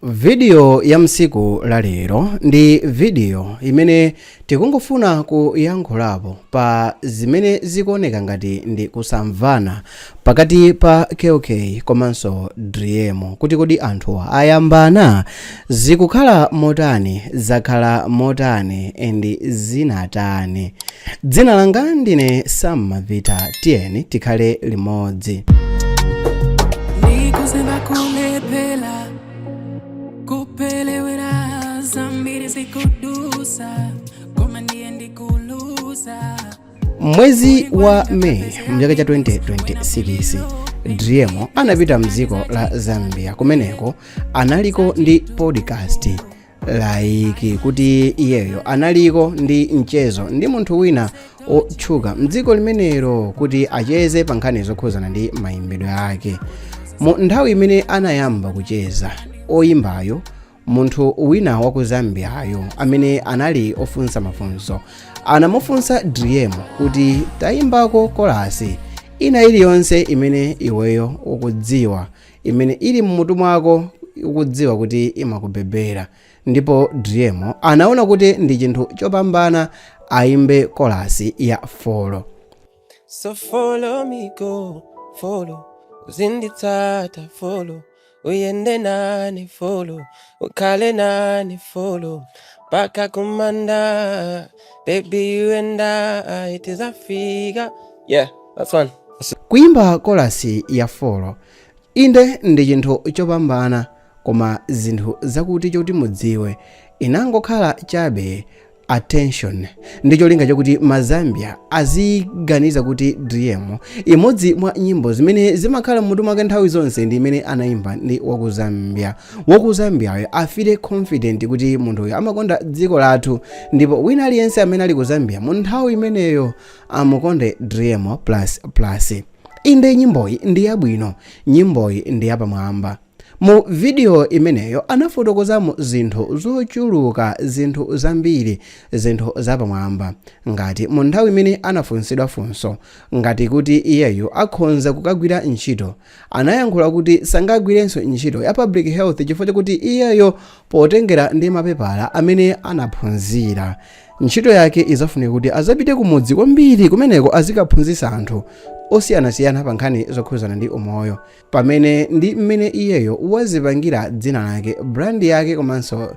vidiyo ya msiku la lero ndi vidiyo imene tikungofuna kuyankhulapo pa zimene zikuoneka ngati ndi kusamvana pakati pa kk komanso driemo kuti kodi anthuwa ayambana zikukhala motani zakhala motani ndi zinatani dzina langa ndine sam mavita tiyeni tikhale limodzi Nikuzimba kulepela kupelewera zambiri zikudusa koma ndiye ndikulusa mwezi wa meyi mchaka cha 2026 driemo anapita mdziko la zambia kumeneko analiko ndi podcast laiki kuti iyeyo analiko ndi mchezo ndi munthu wina otchuka mdziko limenelo kuti acheze pa nkhani zokhuzana ndi mayimbidwe ake mu nthawi imene anayamba kucheza oyimbayo munthu wina wa ku zambiayo amene anali ofunsa mafunso anamufunsa driemo kuti tayimbako kolasi ina iliyonse imene iweyo ukudziwa imene ili m'mutu mwako ukudziwa kuti imakubebera ndipo driemo anaona kuti ndi chinthu chopambana aimbe kolasi ya follow So follow me go, follow. Uzinditsata follow. Uyende nane follow. Ukhale nane follow. Mpaka kumanda. Baby, you and I, it is Africa. Yeah, that's one. Kuimba kolasi ya follow inde ndi chinthu chopambana koma zinthu zakuti choti mudziwe inangokhala chabe attention ndi cholinga chakuti mazambia aziganiza kuti driemo imodzi mwa nyimbo zimene zimakhala mmutu mwake nthawi zonse ndi imene anaimba ndi waku zambia wakuzambiyayo afeele confident kuti munthuyo amakonda dziko lathu ndipo wina aliyense amene ali ku zambia mu nthawi imeneyo amukonde driemo plus plus inde nyimboyi ndi yabwino nyimboyi ndi yapamwamba mu vidiyo imeneyo anafotokozamo zinthu zochuluka zinthu zambiri zinthu zapamwamba ngati mu nthawi imene anafunsidwa funso ngati kuti iyeyo akhonza kukagwira ntchito anayankhula kuti sangagwirenso ntchito ya public health chifukwa chakuti iyeyo potengera ndi mapepala amene anaphunzira ntchito yake izafunika kuti azapite kumudzi kwambiri kumeneko azikaphunzitsa anthu osiyanasiyana pa nkhani zokhuzana ndi umoyo pamene ndi mmene iyeyo wazipangira dzina lake brand yake komanso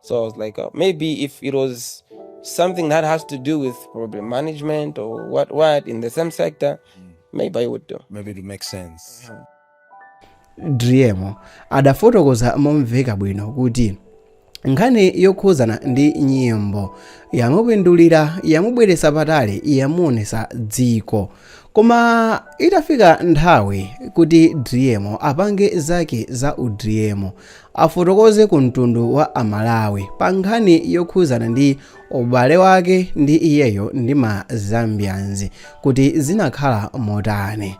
So I was like, uh, maybe if it was something that has to do with probably management or what what in the same sector, maybe I would do. maybe it makes sense driemo adafotokoza momveka bwino kuti nkhani yokhuzana ndi nyimbo yamupindulira yamubweretsa patali yamuonesa dziko koma itafika nthawi kuti driemo apange zake za u Driemo afotokoze ku mtundu wa amalawi pa nkhani yokhuzana ndi ubale wake ndi iyeyo ndi ma zambians kuti zinakhala motani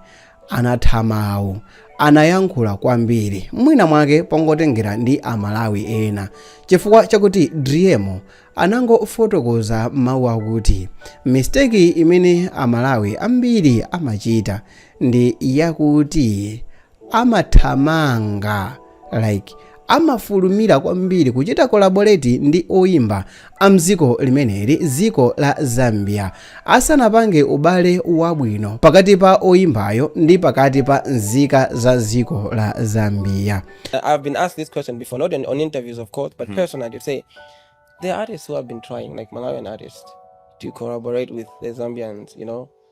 anatha mawu anayankhula kwambiri mwina mwake pongotengera ndi amalawi ena chifukwa chakuti driemo anangofotokoza mawu akuti mistake imene amalawi ambiri amachita ndi yakuti amathamanga like amafulumira kwambiri kuchita collaborate ndi oimba a mdziko limeneli dziko la zambia asanapange ubale wabwino pakati pa oimbayo ndi pakati pa nzika za dziko la zambia Uh, I've been asked this question before, not in, on interviews, of course, but personally, to say there are artists who have been trying, like Malawian artists, to collaborate with the Zambians, you know,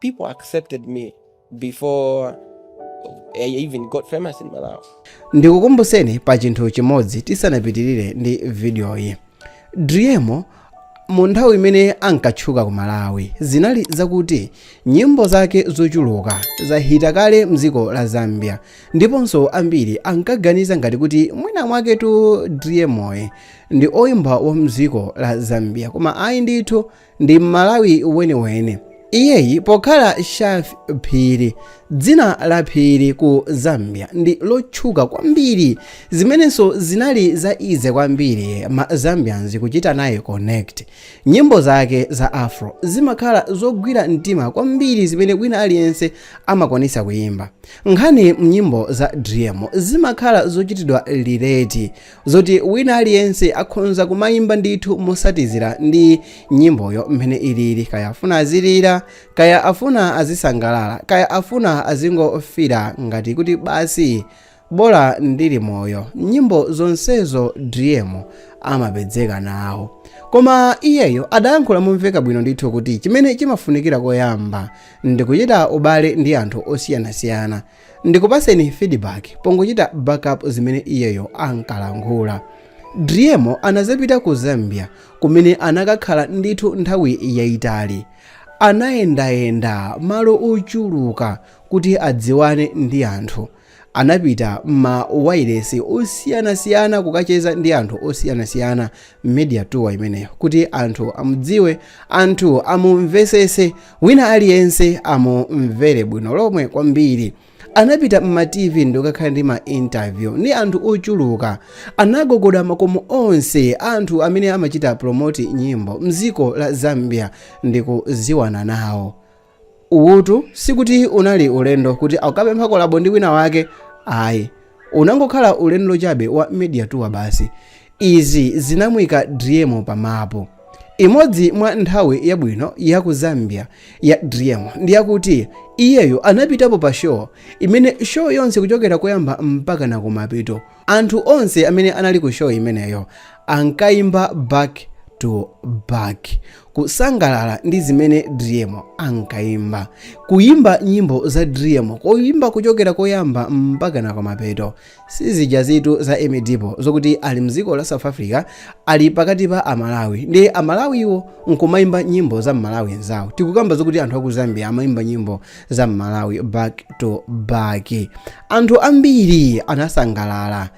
People accepted me before I even got famous in Malawi. ndikukumbuseni pa chinthu chimodzi tisanapitirire ndi vidiyoyi driemo mu nthawi imene ankatchuka ku malawi zinali zakuti nyimbo zake zochuluka zahita kale mdziko la zambia ndiponso ambiri ankaganiza ngati kuti mwina mwaketu driemoyi ndi oyimba wa mdziko la zambia koma ayi ndithu ndi mmalawi weniweni iyeyi pokhala shaffie phiri dzina la phiri ku zambia ndi lotchuka kwambiri zimenenso zinali za easy kwambiri ma zambians kuchita naye connect nyimbo zake za afro zimakhala zogwira mtima kwambiri zimene wina aliyense amakwanisa kuyimba nkhani mnyimbo za driemo zimakhala zochitidwa relate zoti wina aliyense akhonza kumayimba ndithu motsatizira ndi nyimboyo mmene ilili kaya afuna azilira kaya afuna azisangalala kaya afuna azingofira ngati kuti basi bola ndili moyo nyimbo zonsezo driemo amapezeka nawo koma iyeyo adayankhula momveka bwino ndithu kuti chimene chimafunikira koyamba ndikuchita ubale ndi anthu osiyanasiyana Ndikupatseni feedback pongochita backup zimene iyeyo ankalankhula. Driemo anadzapita ku Zambia kumene anakakhala ndithu nthawi yaitali. Anayendayenda malo ochuluka kuti adziwane ndi anthu. Anapita mma wailesi osiyanasiyana kukacheza ndi anthu osiyanasiyana, media tour imeneyo, kuti anthu amudziwe, anthu amumvetsetse wina aliyense amumvere bwino lomwe kwambiri anapita mma tv ndikukakhala ndi ma interview ndi anthu ochuluka anagogoda makomo onse anthu amene amachita promote nyimbo mdziko la zambia ndikudziwana nawo uwutu sikuti unali ulendo kuti akapempha kolabo ndi wina wake ayi unangokhala ulendo chabe wa media tour basi Izi zinamuika Driemo pa mapu. Imodzi mwa nthawi yabwino ya ku Zambia ya Driemo ndi yakuti iyeyo anapitapo pa show imene show yonse kuchokera koyamba mpaka na kumapeto anthu onse amene anali ku show imeneyo ankaimba back to back kusangalala ndi zimene Driemo ankaimba. Kuimba nyimbo za Driemo kuimba kuchokera koyamba mpaka na kumapeto si zijazitu za emmie deebo zokuti ali mdziko la south africa ali pakati pa amalawi ndi amalawiwo nkumayimba nyimbo za mmalawi nzawo tikukamba zokuti anthu aku zambia amayimba nyimbo za mmalawi back to back anthu ambiri anasangalala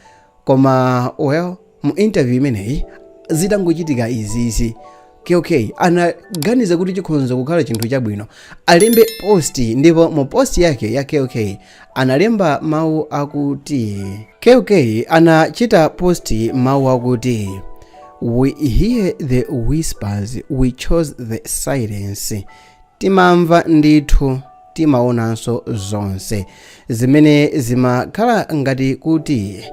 koma well mu interview imeneyi zitangochitika izizi qk anaganiza kuti chikhonza kukhala chinthu chabwino alembe post ndipo mu post yake ya qk analemba mawu akuti qk anachita post mawu akuti we hear the whispers we chose the silence timamva ndithu timaonanso zonse zimene zimakhala ngati kuti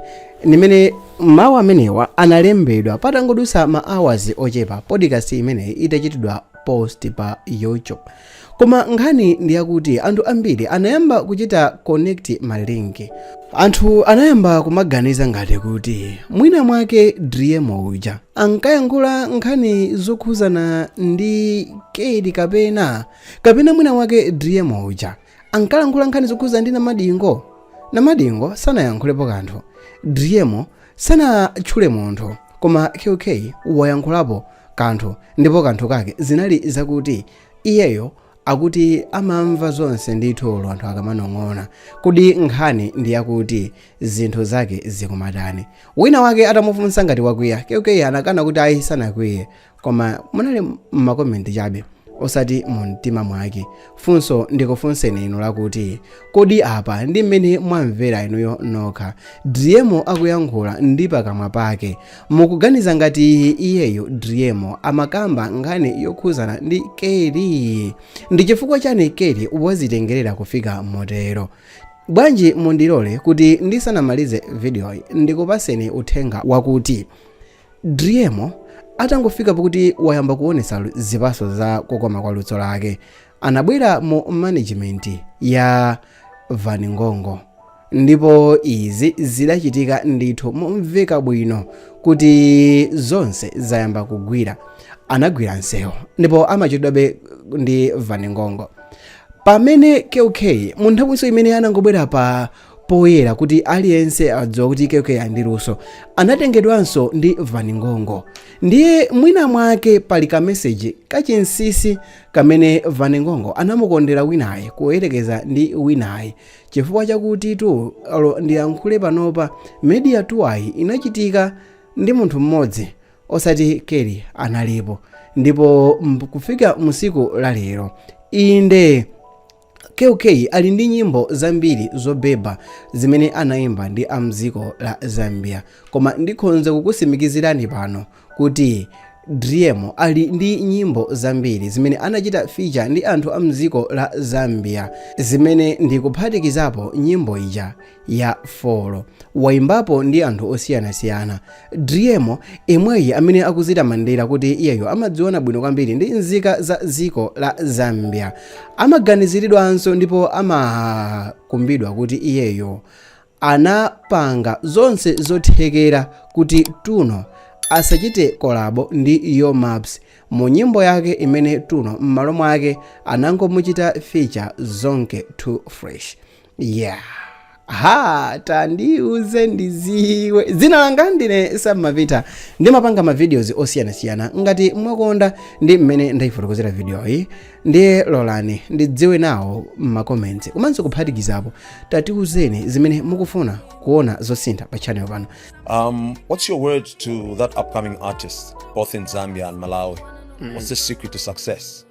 ndimene mawu amenewa analembedwa patangodutsa ma hours ochepa podcast imeneyi itachitidwa post pa youtube koma nkhani ndiyakuti anthu ambiri anayamba kuchita connect malinki Anthu anayamba kumaganiza ngati kuti mwina mwake Driemo uja ankayankhula nkhani zokhuzana ndi Kedi kapena kapena mwina mwake Driemo uja ankalankhula nkhani zokhuzana ndi Namadingo. Namadingo sanayankhulepo kanthu. Driemo sanatchule munthu koma QK wayankhulapo kanthu ndipo kanthu kake zinali zakuti iyeyo akuti amamva zonse ndithu olo anthu akamanong'ona kodi nkhani ndi yakuti zinthu zake zikumatani wina wake atamufunsa ngati wakwiya kk anakana kuti ayi sanakwiye koma munali m'makomenti chabe osati mu mtima mwake funso ndikufunseni inu lakuti kodi apa ndi mmene mwamvera inuyo nokha driemo akuyankhula ndi pakamwa pake mukuganiza ngati iyeyo driemo amakamba nkhani yokhuzana ndi kell ndi chifukwa chani kell wazitengerera kufika motero bwanji mundilole kuti ndisanamalize vidiyoyi ndikupaseni uthenga wakuti driemo atangofika pakuti wayamba kuonesa lu- zipaso za kukoma kwa luso lake anabwera mu management ya van ngongo ndipo izi zidachitika ndithu momveka bwino kuti zonse zayamba kugwira anagwira nsewu ndipo amachedwabe ndi van ngongo pamene kk mu nthawinso imene anangobwera pa poyera kuti aliyense adziwa kuti kk ali ndi luso anatengedwanso ndi van ngongo ndiye mwina mwake pali kameseji kachinsisi kamene van ngongo anamukondera winayi kuyerekeza ndi winayi chifukwa chakuti tu alo ndiyankhule panopa media tour-yi inachitika ndi munthu mmodzi osati kell analipo ndipo m- kufika musiku la lero inde KK ali ndi nyimbo zambiri zobeba zimene anaimba ndi a mdziko la Zambia koma ndikhonza kukusimikizirani pano kuti Driemo ali ndi nyimbo zambiri zimene anachita feature ndi anthu a mdziko la Zambia zimene ndikuphatikizapo nyimbo ija ya folo waimbapo ndi anthu osiyanasiyana driemo emweyi amene akuzitamandira kuti iyeyo amadziwana bwino kwambiri ndi nzika za dziko la zambia amaganiziridwanso ndipo amakumbidwa kuti iyeyo anapanga zonse zothekera kuti tuno asachite kolabo ndi yo maps mu nyimbo yake imene tuno m'malo mwake anangomuchita feature zonke too fresh yeah ha tandiuze ndiziwe dzina langa ndine samapita ndimapanga mavideos osiyanasiyana ngati mwakonda ndi mmene ndayifotokozera vidiyoyi ndiye lolani ndidziwe nawo m'makomenti komanso kuphatikizapo tatiuzeni zimene mukufuna kuona zosintha pa channel pano Um, what's your word to that upcoming artist, both in Zambia and Malawi? What's the secret to success?